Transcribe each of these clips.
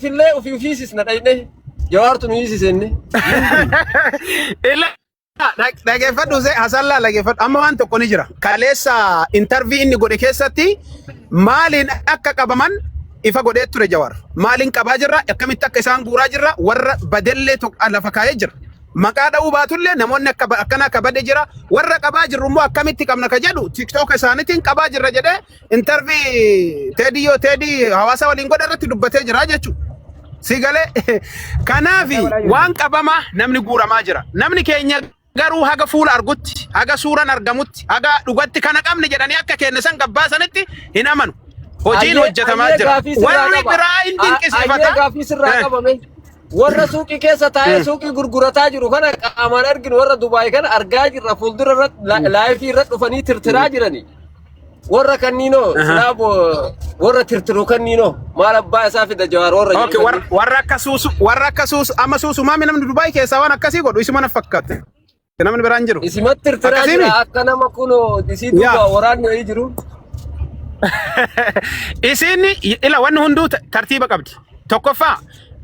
Finfinnee ofii ofii sisna dhayne jawaartu nu hiisisenne. Ila dhag- dhageeffadhu see hasallaa dhageeffadhu amma waan tokko ni jira kaleessa intarvii inni godhe keessatti maaliin akka qabaman ifa godhee ture jawar maaliin qabaa jirra akkamitti akka isaan guuraa jirra warra badellee tokko lafa kaa'ee jira maqaa dha'uu baatullee namoonni akka ba- akkana akka bade jira warra qabaa jirru immoo akkamitti qabna ka jedhu tiktook isaaniitiin qabaa jirra jedhee Intarvii teedii yoo teedii hawaasa waliin godhe irratti dubbatee jira jechuudha. Si galee kanaafi Addaa balaa jirti. waan qabamaa namni guuramaa jira. Namni keenya garuu haga fuula argutti, haga suuran argamutti, haga dhugatti kana qabne jedhanii akka keenne san gabbaasanitti hin amanu. Hojiin Ayyee hojjetamaa ayyee jira. gaafii sirraa Warri qaba. biraa hin A- Ayyee dinqisiifata. gaafii sirraa Eh, qaba mee. Warra suuqii keessa taa'ee mm. suuqii gurgurataa jiru kana qaamaan arginu warra Dubaay kana argaa jirra fuuldura irratti la- laayifii irratti dhufanii tirtiraa jirani. Warra kanniinoo Aha. silaa boo- warra tirtiru kanniinoo maal abbaa isaa fida jawaar warra Okay, jedhu war, kannii. warra akka suusu, warra akka suusu, amma suusu maami namni Dubaay keessaa waan akkasii godhu isuma na fakkaate. Namni biraan jiru. Isimatti tirtiraa Akkasii jira mi? akka nama kunoo isii Yaa. duuba waraanni wayii jiru. Isiin ila wanni hunduu ta- tartiiba qabdi. Tokkoffaa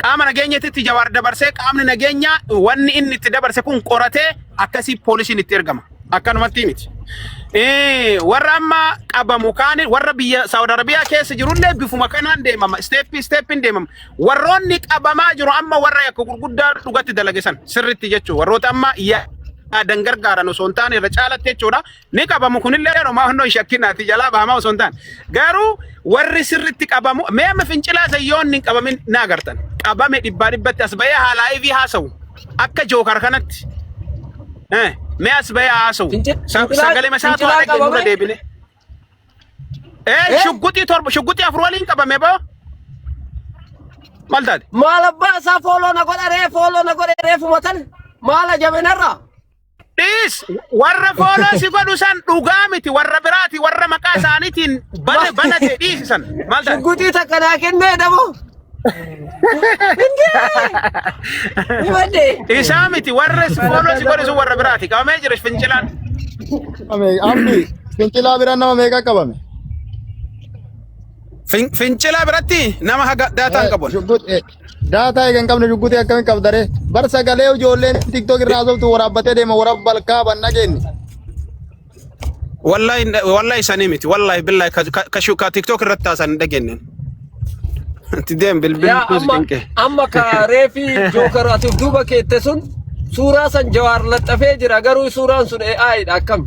Qaama nageenyatitti Jawaar dabarsee qaamni nageenyaa wanni inni itti dabarse kun qoratee akkasii poolisiin itti ergama. Akkanumatti miti. Eh, Warra amma qabamu kaan warra biyya Saawud Arabiyaa keessa jirullee bifuma kanaan deemama. Isteeppii isteeppiin deemama. Warroonni qabamaa jiru amma warra yakka gurguddaa dhugatti dalagesan sirritti jechuudha. Warroota amma yaadan gargaaran osoo hin taane irra caalatti jechuudha. ni qabamu kunillee homaa hundoo hin shakkinaati jalaa bahamaa osoo hin taane garuu warri sirritti qabamu mee amma fincilaa sayyoon hin qabamin na agartan qabame dhibbaa dhibbatti as bahee haalaa ivi haasawu akka jookar kanatti Eh, mee as bahee haasawu Finci- Sa- fincilaa- sagalee masaatu fincilaa haadha keenyurra qabame? deebine ee Eh? shugguxii torba shugguxii afur waliin qabame boo maal taate maal abbaa isaa fooloo na godha ree fooloo na godha reefuma tan maala jabinarraa Dhiis warra fooloo si godhu san dhugaa miti warra biraati warra maqaa isaaniitiin bana bana ta'e dhiisi san maal ta'e? Shugguxii takka naa kennee dabo. Himadhe. Isaa miti warra si fooloo si godhu sun warra biraati qabamee jira fincilaan. Amni fincilaa bira nama meeqa qabame? Fin- Fincilaa biratti nama haga daataan qabu. Shugguxii. Daataa eega hin qabne shugguxii akkamitti qabda ree? Bar sagalee ijoolleen tiktok irraa haasoftu waraabbatee deema waraab balkaa ban dhageenye. Wallahi wallahi sanii miti. Wallahi billahi ka ka ka shu- ka TikTok irratti haasan hin dhageenye. Ati deem bilbil Yaa kuusi amma cinqe. amma ka reefi jookar ati of duuba keette sun suuraa san jawaar laxxafee jira garuu suuraan sun AI dha akkam.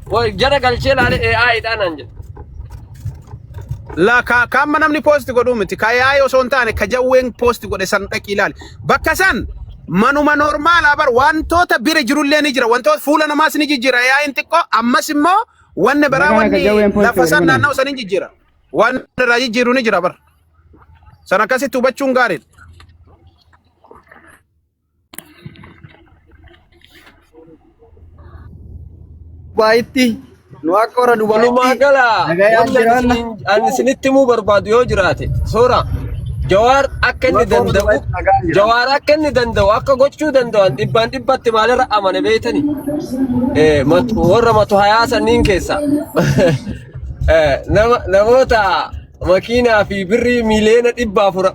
Qoy jara galchee laale AI dhaan aan jedhe. La ka ka amma namni post godhu miti. Ka yaa'ii osoo hin taane ka jawween post godhe san dhaqii ilaali. Bakka san manuma normaalaa bar wantoota bira jirullee ni jira. Wantoota fuula namaas ni jijjiira yaa'iin xiqqoo ammas immoo wanni Isa biraa kana ka wanni jawween post lafa godhe san kun naanna'u san ni jijjiira. Waan irraa jijjiiru ni jira bar. San akkasitti hubachuun gaariidha. Dubaayitti nu akka warra Walumaa Dubaayitti gala nagayaan wanti ani jiraanna. isiniin- ani isinitti himuu barbaadu yoo jiraate soora jawaar akka inni Warra warra danda'u Dubaayitti nagaan jiraanna. jawaar akka inni danda'u akka gochuu danda'an dhibbaan dhibbatti maalirra amane beektani Eh, mat- warra matu hayaa sanniin keessa Eh, nama- namoota makiinaa fi birrii miiliyoona dhibba afur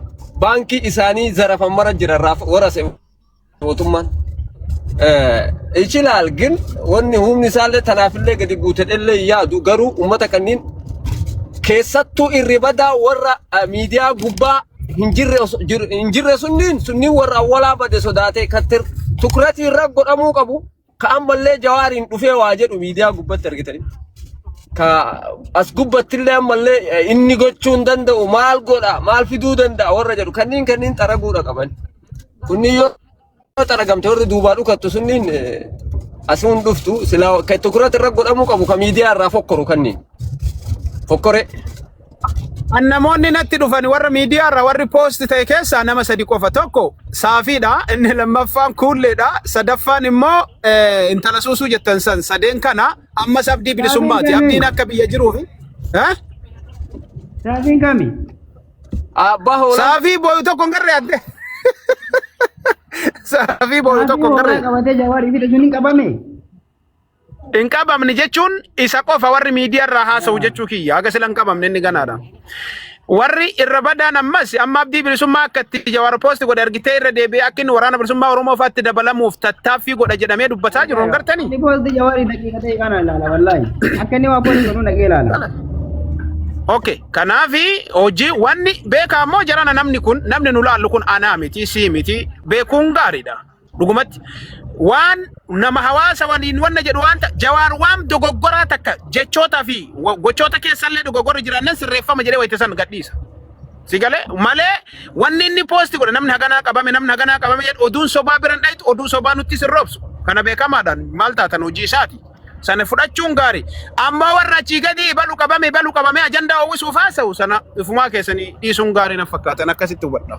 baankii isaanii zarafan mara jira raaf warase mootummaan. Ichilaal gin wanni humni isaallee tanaafillee gadi buutedhellee yaadu garuu uummata kanneen keessattuu irri badaa warra eh, miidiyaa gubbaa hin jirre os- jiru- hin jirre sunniin sunniin warra awwalaa bade sodaatee kattir tukiratii irra godhamuu qabu. ka ammallee jawaariin dhufee waa jedhu miidiyaa gubbatti argitanii ka as gubbattillee ammallee eh, inni gochuu hin danda'u maal godha maal fiduu danda'a warra jedhu kanniin kanniin xaraguudha qaban kunniin yoo yoo xaragamte warri duubaa dhukattu sunniin eh, as hin dhuftu silaa ka tokkorratti irra godhamuu qabu ka miidiyaa irraa fokkoru kanniin fokkore An namoonni natti dhufan warra miidiyaa irraa warri poosti ta'e keessaa nama sadi qofa. Tokko saafiidha, inni lammaffaan kuulleedha, sadaffaan immoo eh, intala suusuu jettan san sadeen kana ammas abdii Raabiin bilisummaati. kami? Abdiin akka biyya jiruufi. Eh? Raabiin kami? Abbaa hoolaa. Saafii booyu tokko hin garree adde. Saafii booyu Raabiin tokko hin hoolaa garree. qabatee jawaar ibidda sun hin qabame. Hin qabamne jechuun isa qofa warri miidiyaa irraa haasa'u jechuu kiyya. Haga sila hin qabamne inni ganaadha. Warri irra badaan ammas amma abdii bilisummaa akka itti jawaar poosti godhe argitee irra deebi'ee akka inni waraana bilisummaa Oromoo fa'aatti dabalamuuf tattaaffii godha jedhamee dubbataa jiru hin gartanii? Inni poosti jawaari daqiiqa ta'e kana ilaala wallaahi. Akka inni waa poosti godhu dhaqee ilaala. Okay, kanaafi hojii wanni beekaa immoo jarana namni kun namni nu laallu kun anaa miti sii miti beekuun gaariidha. Dhugumatti waan nama hawaasa waliin wanna jedhu waan ta jawaar waan dogoggoraa takka jechootaa fi wa- gochoota keessallee dogoggorri jiraannan sirreeffama jedhee wayita san gadhiisa. Si galee malee wanni inni poosti godhe namni haganaa qabame namni haganaa qabame jedhu oduun sobaa biran dhayitu oduu sobaa nutti sirroobsu. Kana beekamaadhaan maal taatan hojii isaati. Sana fudhachuun gaarii. Amma warra achii gadi balu qabame balu qabame ajandaa uwwisuuf haasa'u sana ifumaa keessanii dhiisuun gaarii na fakkaatan akkasitti hubadha.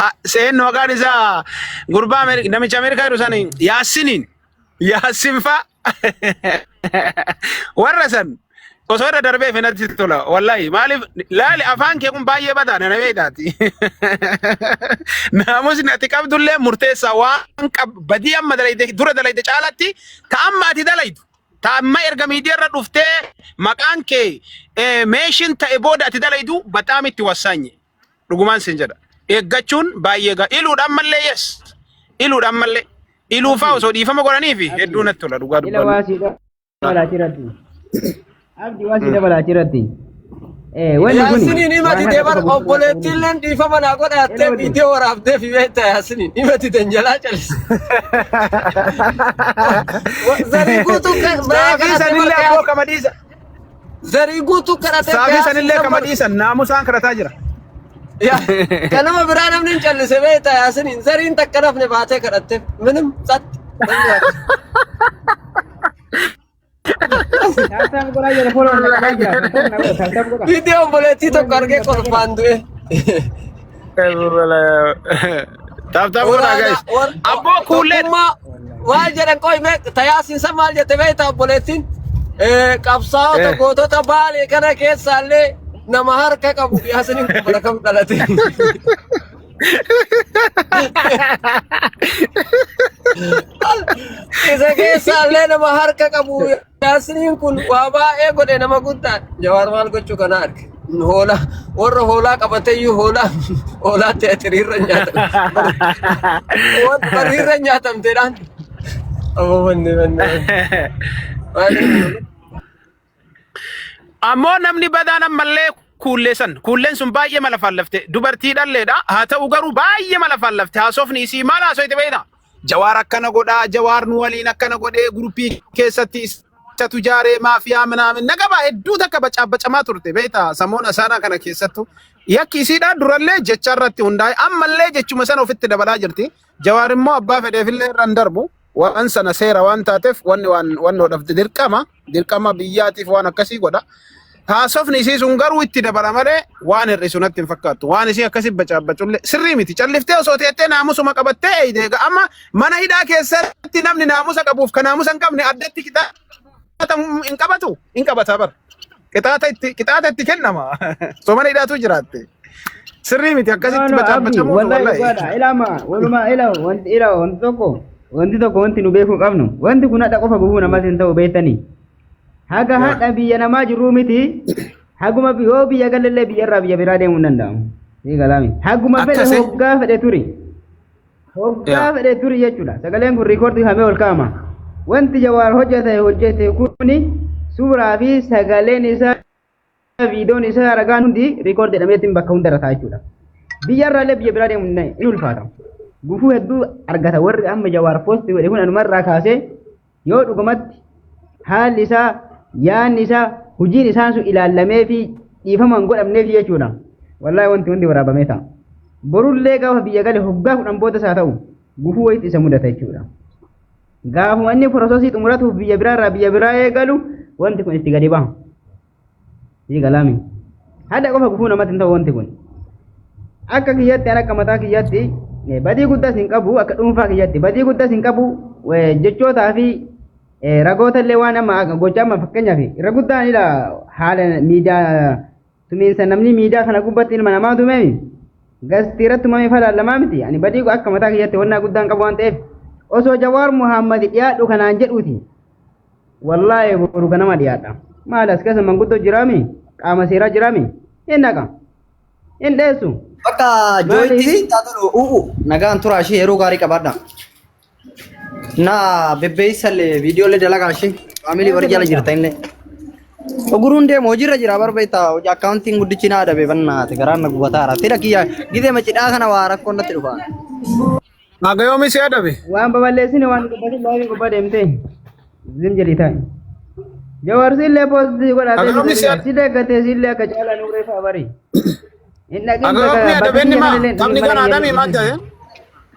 Ha- Seen maqaan isaa gurbaa Ameeri- namicha Ameerikaa jiru sani Yaasiniin. Yaasin fa'a. Warra san osoo irra darbee finatti tola. Wallahi maaliif laali afaan kee kun baay'ee badaa na beektaati. Naamusni ati qabdullee murteessaa waan qab badii amma dalayde dura dalayde caalatti ta amma ati dalaydu. ta amma erga miidiyaa irra dhuftee maqaan kee eh, meeshin ta'e booda ati dalaydu baxaam itti wassaanye dhugumaan sin jedha eeggachuun baay'ee gaa iluudha ammallee yes iluudha ammallee iluufaa osoo dhiifama godhanii fi hedduu natti tola dhugaa Ila dubbannu. waasiidha balaatii irratti. Abdi waasiidha balaatii irratti. Yaasiniin himati deebar obboleettiilleen dhiifama naa godha jettee viidiyoo waraabdee fi beekta yaasiniin himati tan jalaa calise. Zarii guutuu kan- Saafii sanillee abboo kama dhiisa. zarii guutuu kadhatee Saafii gaafii sanillee kama nama- dhiisan naamusaan kadhataa jira. Ya- kan nama biraa namni hin callise beekta yaasiniin zariin takka nafne baatee kadhatte minim satti. Taaptaap godhaa jira fooloo na qabaa jira kan fooloo na godha taaptaap godhaa. Viidiyoo obboleettii tokko argee kolfaan du'e. Taap taap godhaa guys. Abboo kuullee. Tokkummaa maal jedhan qoy mee tayaasiin san maal jette beektaa obboleettiin? Eh, Qabsaa'ota Eh. gootota baalee kana keessaallee nama harka qabu yaasiniin kun bara kam dhalate. Isa keessaallee nama harka qabu yaasiriin kun waa baay'ee godhe nama guddaa jawaar maal gochuu kana arge. Hoolaa warra hoolaa qabateyyuu hoolaa hoolaa teatiriirra nyaatamte barriirra nyaatamteedhaan. Amma manni manni. Ammoo namni badaan ammallee kuullee san. Kuulleen sun baay'ee mala faallafte. Dubartii dhalleedha. Haa ta'u garuu baay'ee mala faallafte. Haasofni isii maal haasoyte beekna? Jawaar akkana godhaa, jawaar nu waliin akkana godhee guruppii keessatti isatu jaaree maafiyaa minaamin na qabaa hedduu takka bacaabacamaa turte beekta samoon asaanaa kana keessattu. Yakki isiidhaa durallee jecha irratti hundaa'e ammallee jechuma sana ofitti dabalaa jirti. Jawaar immoo abbaa fedheefillee irra hin darbu. Waan sana seera waan taateef wanni waan wannoodhaaf dirqama. Dirqama biyyaatiif waan akkasii godha. Haasofni isii sun garuu itti dabala malee waan hir'isu natti hin fakkaattu. Waan isii akkasii bacaabbacullee sirrii miti. Calliftee osoo teettee naamusuma qabattee eeyde. Egaa amma mana hidhaa keessatti namni naamusa qabuuf kan naamusa hin qabne addatti qixaata hin qabatu. Hin qabata bara. Qixaata itti qixaata itti kennama. Osoo mana hidhaatu jiraatte. Sirrii miti No, akkasitti no, Abdi, bacaabacamuun wallahi wallahi. dhugaadha. Ilaama, walumaa ila, wanti ila, wanti tokko, wanti tokko wanti nu beekuu qabnu. Wanti kun hadha qofa gufuu namas hin ta'u beektanii. Haga Yaa. hadha biyya namaa jirruu miti. Haguma bi- yoo biyya galallee biyya irraa biyya biraa deemuu hin danda'amu. Ni galaami. Haguma fedhe Akkasii. hoggaa fedhe turi. Hoggaa Yaa. fedhe turi jechuudha. Sagaleen kun riikoordii hamee ol kaa'ama. Wanti jawaar hojjete hojjete kuni suuraa fi sagaleen isaa viidoon isaa ragaan hundi riikoord jedhameetiin bakka hundarra ta'a jechuudha. Biyya irraallee biyya biraa deemuun na- in ulfaata. Gufuu hedduu argata warri amma jawaar poosti godhe kun anumarraa kaasee yoo dhugumatti haalli isaa yaanni isaa hojiin isaan sun ilaallamee fi dhiifamaan godhamneef jechuudha. Wallaahi wanti hundi waraabamee ta'a. Borullee gaafa biyya gale hoggaa kudhan boodas haa ta'u gufuu wayitti isa mudata jechuudha. Gaafuma inni prosesii xumuratuuf biyya biraa irraa biyya biraa eegalu wanti kun itti gadi bahu. Sii galaami. Hadha qofa gufuu namatti hin ta'u wanti kun. Akka kiyyatti akka mataa kiyyatti badii guddaas hin qabu akka dhuunfaa kiyyatti badii guddaas hin qabu jechootaa fi ragoota illee waan amma gochaa amma fakkeenyaaf irra guddaan haala miidiyaa tumiinsa namni miidiyaa kana gubbatti ilma namaa tumeemi gastii irratti tumamee falaallamaa miti ani badii go- akka mataa kiyyatti honnaa guddaan qabu waan ta'eef osoo jawaar muhammad dhiyaadhu kanaan jedhuuti wallaahi boru ganama dhiyaadha maal as keessa manguddoo jiraami qaama seeraa jiraami hin dhaqa hin dheessu Bakka jooyitti Maaliif? sitti haa tolu u'u nagaan turaa ishee yeroo gaarii qabaadha. Na bebbeessalle viidiyoolee dalagaa ishee faamilii warri jala jirta inni. Oguruun deemu hojiirra jira barbeetta hojii akkaawuntiin guddichi naa dhabe bannaate garaan na gubataara. Tira kiyya gidee macidhaa kana waa rakkoon natti dhufa. Haga yoomii si adabe? Waan babal'eessine waan gubbatin baay'ee gubbaa deemtee. Zim jedhii taa'e. Jawaar sillee poostii godhatee Akka yoomii si- sillee gatee sillee akka caalaa nuuree fa'aa barii. Inni Haga yoomii adabe inni maa? Taphni kan adamii maal ta'e?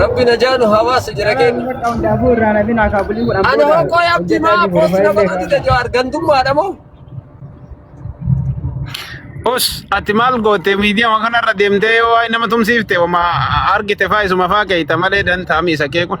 Rabbi najaanu hawaasa jira keenya. Ani hokkoo yaabdi maa boos nama gadi tajoo argantummaadha moo? Os ati maal goote miidiyaa waan kanarra deemtee yoo waa'ee nama tumsiifte wama argite faa isuma faa keeyta malee dantaami isa kee kun.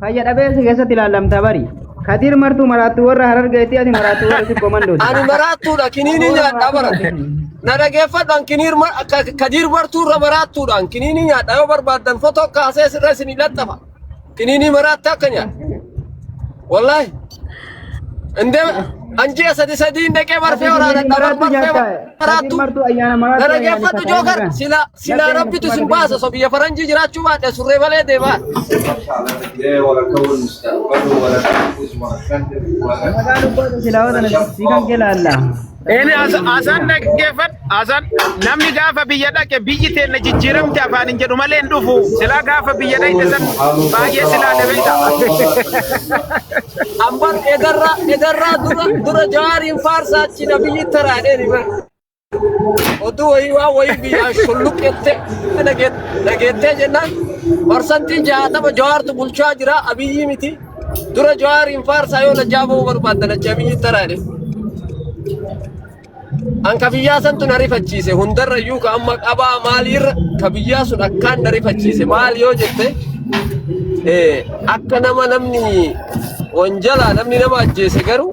Fayya dhabeessa keessatti ilaallamta bari. Kadir martuu maraattuu warra harargeetti ati maraattuu warra sibbo mandooti. Ani maraattuudha kiniinii nyaadhaa bara. Na dhageeffadhaan kiniir mar- ka- kadiir martuu irra maraattuudhaan kiniinii nyaadhaa yoo barbaaddan fotoo kaasee sirra isinii laxxafa. Kiniinii maraattaa akka nyaadha. Wallaahi. Indee anjii sadi sadii hin dhaqee barfee waraana dhabar barfee maraattuu. Martuu ayyaana maraattuu. Na dhageeffadhu jookar silaa. Silaa rabbitu isin baasa so biyya faranjii jiraachuu baadhe surree malee deemaa. Eeni asaan dhaggeeffadhu. Asaan namni gaafa biyya dhaqe biyyi teenna jijjiiramte afaan hin jedhu malee hin dhufu. Silaa gaafa biyya dhaqe san baay'ee silaa dabeeta. Ambar edarraa edarraa dura dura jaariin faarsaa achi na biyyi taraadheen. Oduu wayii waan wayii biyyaan shulluq jettee dhageettee jennaan parsantii jaatama jawaartu bulchaa jira abiyyii miti. Dura jawaariin faarsaa yoo lajjaa ba'uu barbaadda lajjaa biyyi taraadhe. An ka biyyaa santu na rifachiise hundarra iyyuu ka amma qabaa maaliirra ka biyyaa sun akkaan na rifachiise maal yoo jette akka nama namni wanjalaa namni nama ajjeese garuu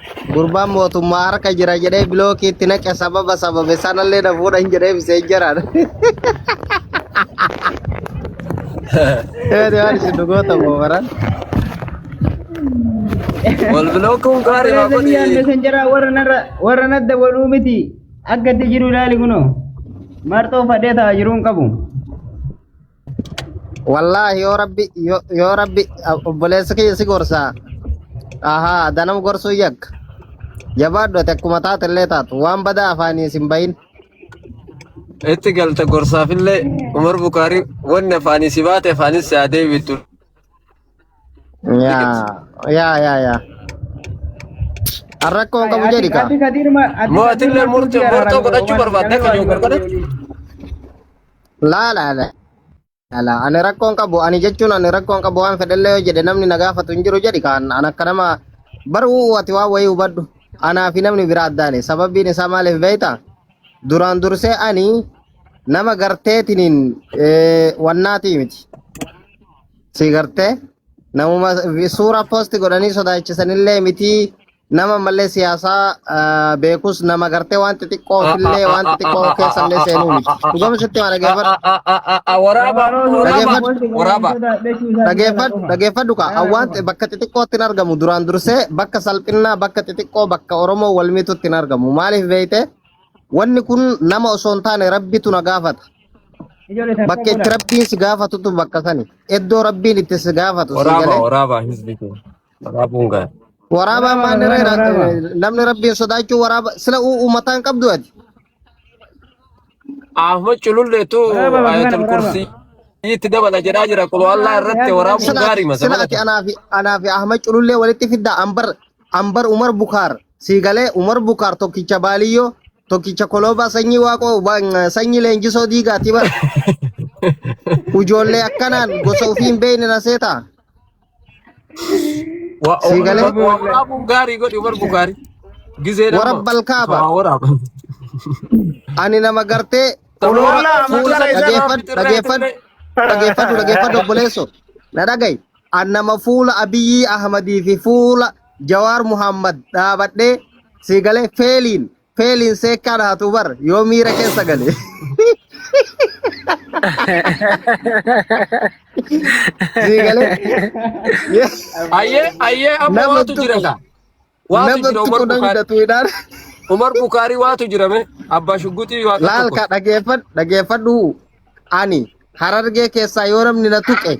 Gurbaan mootummaa harka jira jedhee bilookii itti naqe sababa sababe sanallee na fuudhan jedhee bisee jiraan. Eeyyee waan isin dhugoota moobaran. Wal bilookuun gaarii haa Akkana yaadne godhi. san jara warra narra warra nadda waluu miti akka itti jiru ilaali kunoo marxoo fadhee ta'a jiruun qabu. Wallaahi yoo rabbi yoo yoo rabbi obboleessa kiyya si gorsaa. Ahaa danam gorsuu yakka. Jabaadhu ati akkuma taate illee taatu waan badaa afaanii sin bahin. Itti galta gorsaafillee Umar Bukaarii wanni afaanii si baate afaanis si haa deebitu. Yaa yaa yaa yaa. An rakkoo hin qabu jedhi kaa. Mootillee murtoo murtoo godhachuu barbaadde akka jiru godhadhe. Laa laa laa laa laa. Ani rakkoon qabu ani jechuun ani rakkoon qabu waan fedhellee yoo jedhe namni na gaafatu hin jiru jedhi kaan an akka nama baruu ati waan wayii hubadhu. Anaa fi namni biraa addaani sababiin isaa maaliif beektaa? Duraan dursee ani nama garteetiniin eh, wannaatii miti. Si gartee namuma vi- suuraa poosti godhanii sodaachisanillee miti Nama malee siyaasaa ah, beekus nama gartee waan xixiqqoo ofillee waan xixiqqoo keessallee seenuu miti. Dhugama sitti maa dhageeffadhu. Waraaba, Abaroon waraaba, Dhageeffadhu. wanti kun waraaba. sodaa dhechuu isaa Dhageeffadhu qofa. dhageeffadhu kaa Yaa waan Oromoo. bakka xixiqqootti hin argamu duraan dursee bakka salphinnaa bakka xixiqqoo bakka Oromoo wal miitutti hin argamu. Maaliif beekte wanni kun nama osoo hin taane rabbitu na gaafata. Ijoollee takka Bakka itti godha. rabbiin si gaafatutu bakka sani. Iddoo rabbiin itti si gaafatu si Waraaba, galee waraaba, hizbi kee. Waraabuun gaara. Waraabaa Waraaba maanni waraana reera waraaba. namni rabbiin sodaachuu waraaba sila uu uummataa hin qabdu ati. Ahmad cululleetu Waraaba bakka kana ayatul waraaba. kursiitti dabala jedhaa jira. Quloo Waraaba Allah irratti yaadu waraabuun Sila gaarii ati masa sila ati malata. anaa fi anaa fi Ahmad Culullee walitti fiddaa Ambar Ambar Umar Bukaar sii galee Umar Bukaar tokkicha Baaliyyoo tokkicha Koloobaa sanyii Waaqoo ba- sanyii leenjisoo diigaati bara. Ujoollee akkanaan gosa ofii hin beekne na seetaa. Wa o Sii galee? wa waraabuun gaarii godhi Umar Bukaari. Gizee nama. Warabba alkaaba. Waa waraaba. Ani nama gartee Sababa oloora Wallah, fuula amantaa isaa dhageeffadhu bitirree dhageeffadhu bitirree. dhageeffadhu dhageeffadhu obboleesso na dhagayi an nama fuula Abiyyi Ahmadii fi fuula Jawaar Muhammad dhaabadhee sii galee feeliin Feeliin seekkaa dhahatu bar yoo miira keessa gale. Sii galee Ayyee ayyee amma Nama waatu jira tuqu. kaa. Waatu nama jira Umar tuqu namni Bukaari. datuudhaan Umar Bukaari waatu jira mee. Abbaa Shugguxii waa laal tokko. ka dhageeffadhu dhageeffadhu ani Harargee keessaa yoo namni na tuqe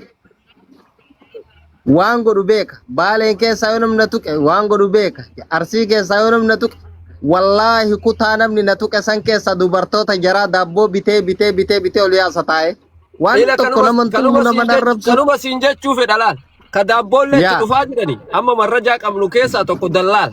waan godhu beeka. Baaleen keessaa yoo namni na tuqe waan godhu beeka. Arsii keessaa yoo namni na tuqe wallaahi kutaa namni na tuqe san keessaa dubartoota jaraa daabboo bitee bitee bitee bitee ol yaasa taa'e. Waan Ila tokko kanuma nama hin tumu kanuma nama siin hin jech- arrabsu. kanuma siin jechuu fedha laal. Ka daabboollee itti Yaa. dhufaa jirani. Amma marrajaa qabnu keessaa tokko dallaal.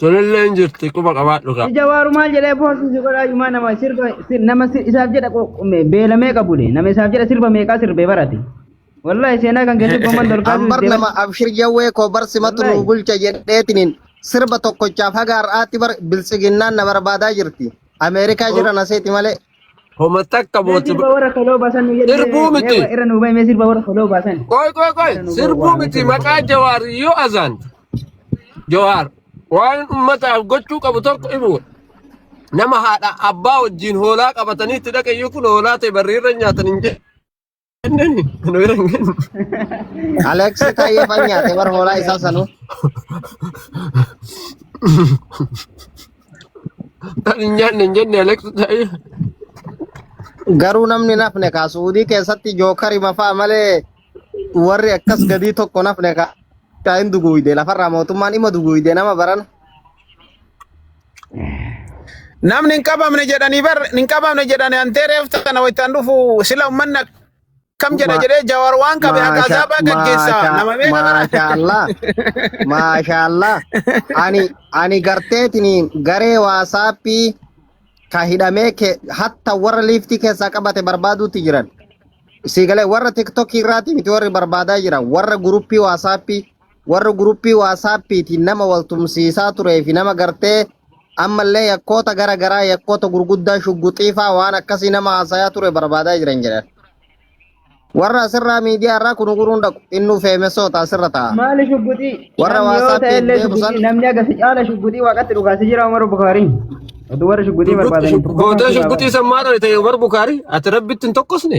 Tolillee hin jirti quba qabaadhu kaa. Ija waaru maal jedhee poostii si godhaa yumaa nama sirba si- nama si- isaaf jedha qo- me- beela meeqa bule nama isaaf jedha sirba meeqaa sirbee barate. Wallahi seenaa kan keessatti gomman dolkaa Ambar sirbee nama abshir jawwee koo bar simatu Wallahi. nuu bulcha jedheetiniin sirba tokkochaaf haga har'aatti bar biltsiginnaan na barbaadaa jirti. Ameerikaa jira na seeti malee. Homa takka Mee mootu sirba warra koloo baasan nu jedhi sirbuu mee mee miti. wa- irra nu bahi mee sirba warra koloo baasan Qoy qoy qoy irra nu bahi sirbuu waa mee miti sirba maqaa koloo. jawaar yoo azaan jawaar waan ummataaf gochuu qabu tokko imu nama haadha abbaa wajjin hoolaa qabatanii itti dhaqayyuu kun hoolaa ta'e barriirra nyaatan hin jedhu. Aleksi tayyee fan nyaate bar hoolaa isaa sanuu. Tan hin nyaanne hin jenne Aleksi tayyee. Garuu namni nafne kaa suudii keessatti jookari mafaa malee warri akkas gadii tokko nafne kaa. Kaa hin duguuyde lafarraa mootummaan ima duguuyde nama barana. Namni hin qabamne jedhanii bar hin qabamne jedhanii antee reefta kana waytaan dhufu sila ummanni akkam jedha jedhee jawar waan qabe haqa Maasha azaabaa gaggeessa maasha nama meeqa kana. maasha Allah maasha Allah ani ani garteetiniin garee waasaappii ka hidhamee ke hatta warra liiftii keessaa qabate barbaaduutti jiran siigalee warra tiktokii irraati miti warri barbaadaa jiran warra guruppii waasaappii warra guruppii waasaappiitiin nama wal tumsiisaa turee fi nama gartee ammallee yakkoota gara garaa yakkoota gurguddaa shugguxiifaa waan akkasii nama haasayaa ture barbaadaa jiran jedhan. Warra asirraa miidiyaa irraa kun guruun dhaqu innuu feemessoota asirra ta'a. Maali shugguxii? Warra Namni yoo WhatsApp ta'e illee deebisan- shugguxii namni akkasi caala shugguxii waaqatti dhugaasee jira Umaru Bukaariin. Oduu warra shugguxii barbaadan. Gootee shugguxii san maadha ta'e Umar Bukaari ati rabbitti hin tokkosne.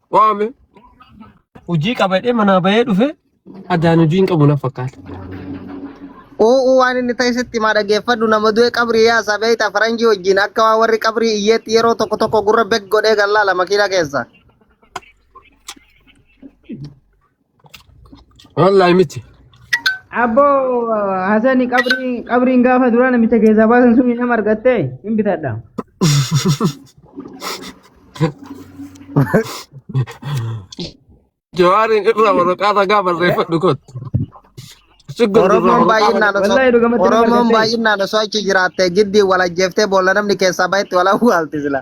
waame hojii qabadhee manaa bahee dhufe adaan hojii hin qabu na fakkaata. Uuu waan inni ta'e sitti maa dhageeffadhu nama du'e qabrii yaasa beeyta faranjii wajjin akka waan warri qabrii iyyeetti yeroo tokko tokko gurra bek godhee gallaala makiina keessa. Wallahi miti. Abboo Hasani qabrii qabriin gaafa duraa namicha keessaa baasan sun nama argatte hin bitadha. Jawaariin irraa waraqaa ragaa barreeffadhu kottu. Siggur Oromoon durraa baay'inaan osoo Wallahi dhuga matti nama Oromoon argatte. baay'inaan osoo achi jiraatte giddii wal ajjeeftee boolla namni keessaa bahetti wal awwaalti sila.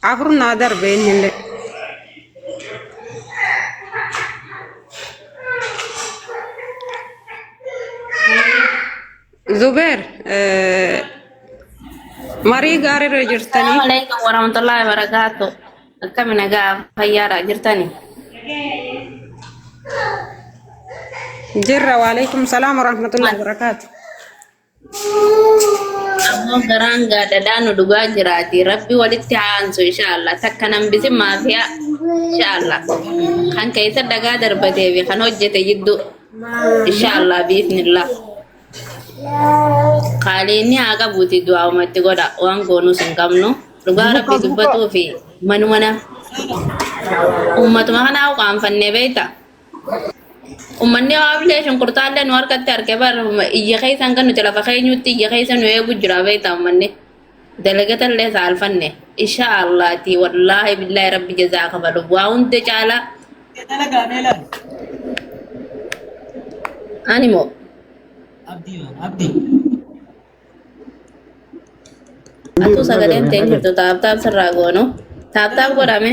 Afur naa darbe innillee. Zubeer eh, marii gaariirra Assalamu jirtanii alaikum warahmatullahi wabarakatuh. Akkami nagaa fayyaadha jirtani? jirra waalaikum salaam warahmatullahi wabarakaatu. Ammoo garaan gaadadaa nu dhugaa jiraati. Rabbi walitti haa aansu inshaallah. Takka nan bisin maafiyaa inshaallah. Kan keessa dhagaa darbatee fi kan hojjete jidduu inshaallah biifnillah. Qaaliinni haa qabuuti du'aa uumatti godha. Waan goonuus hin qabnu. Dhugaa Buka, rabbi buka. dubbatuu fi manuma na uummatuma kanaa uqaanfannee beekta. Uummanni Hawaablee shunkurtaallee nu harkatti arge bar iyya keessa hanga nuti lafa keenyutti iyya keessa nu eegu jira beektaa uummanni. Dalagatallee saalfanne. Insha Allaati wallaahi billaahi rabbi jazaa kafalu. Waa hunda caalaa Dalagaa meelaan? ani moo Abdii waan abdii. atuu sagaleen ta'e jirtu taaptaap sirraa goonu. Taaptaap godhame.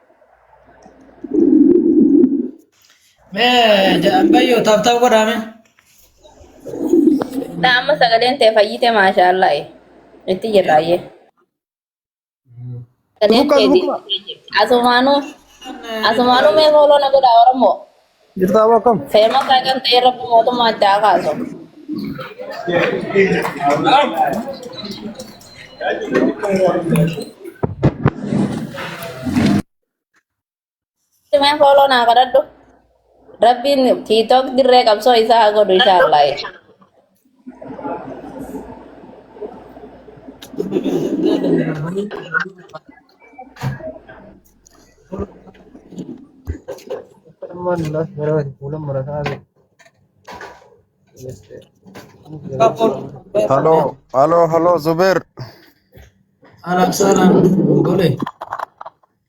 Mee ammayyoo taaptaa godhaame. Na amma sagaleen tee fayyite maashaallah. Itti jirra ayyee. Sagaleen Luka tee luka. deebi'ee jirti. Asumaanuu asumaanuu mee fooloo na godhaa Oromoo. Jirtaa moo akkam? Feema sagan ta'e rabbi mootummaa itti haa kaasu. Simeen fooloo naa kadhadhu. Rabbiin tiitook dirree qabsoo isaa haa godhu inshaallah. Halo, halo, halo, Zubair. Salam salam gole.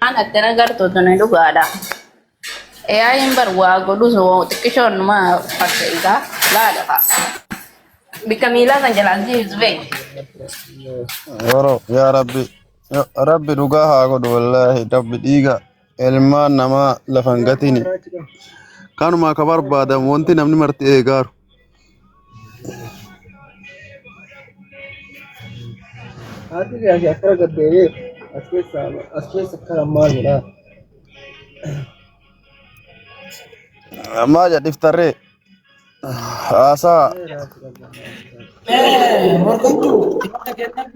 Waan akkana gartuu tuni dhugaadha. AI'n bar waa godhus waa xiqqishoon numa fakkeessaa laala fa'a. Bikka miilaa kan jalaan si ibsu beekti. Yeroo yaa rabbi ya rabbi dhugaa haa godhu wallaahi rabbi dhiiga ilmaan namaa lafa hin gatini. Kanuma akka barbaadamu wanti namni marti eegaaru. Haati gaasi akkana gaddeebee as keessa as keessa akkana maal jedha. Ammaa jadhiftarree haasaa Morkattuu, morka kennan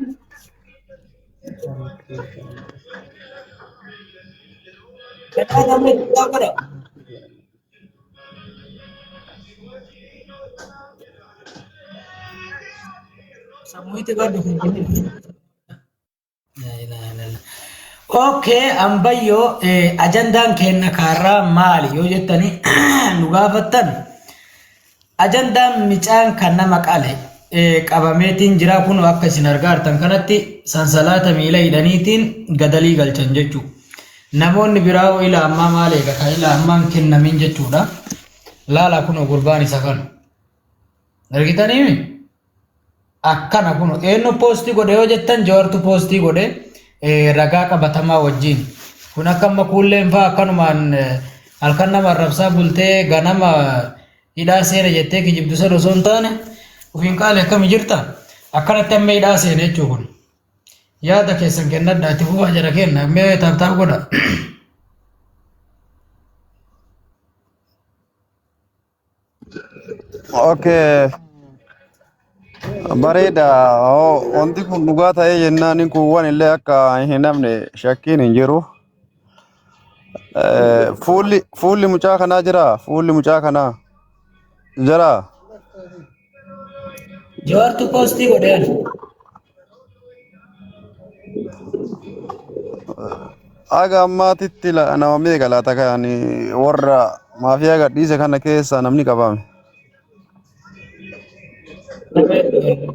Okay, ambayyoo ajandaan keenya kaarraa maali yoo jettanii nu gaafattan Ajandaan micaan kan nama qale qabameetiin jira kun akka isin argaartan kanatti sansalaata miila hidhaniitiin gadalii galchan jechuu namoonni biraa hoo ila ammaa maal eega kan ila ammaan kennamin jechuudha laala kun gurbaan isa kan argitanii akkana kun eenyu poostii godhe yoo jettan jawartu poostii godhe ragaa qabatamaa wajjin kun akka amma kuulleen fa'aa akkanumaan halkan nama arrabsaa bultee ganama hidhaa seena jettee kijibdu sana osoo hin taane ofiin qaale akkami jirta akkanatti amma hidhaa seena jechuu kun yaada keessan kennadha itti fufaa jara kenna mee taaptaap godha. Okay. Bareeda. Hoo, Wanti kun dhugaa ta'ee jennaan kun waan illee akka hin namne shakkiin hin jiru. Eh, Fuulli fuulli mucaa kanaa jira. Fuulli mucaa kanaa jira. Jawaartu poostii godhe ani. Haga ammaatitti la- nama meeqa laata kan warra maafiyaa gadhiise kana keessaa namni qabame? Nama hedduu.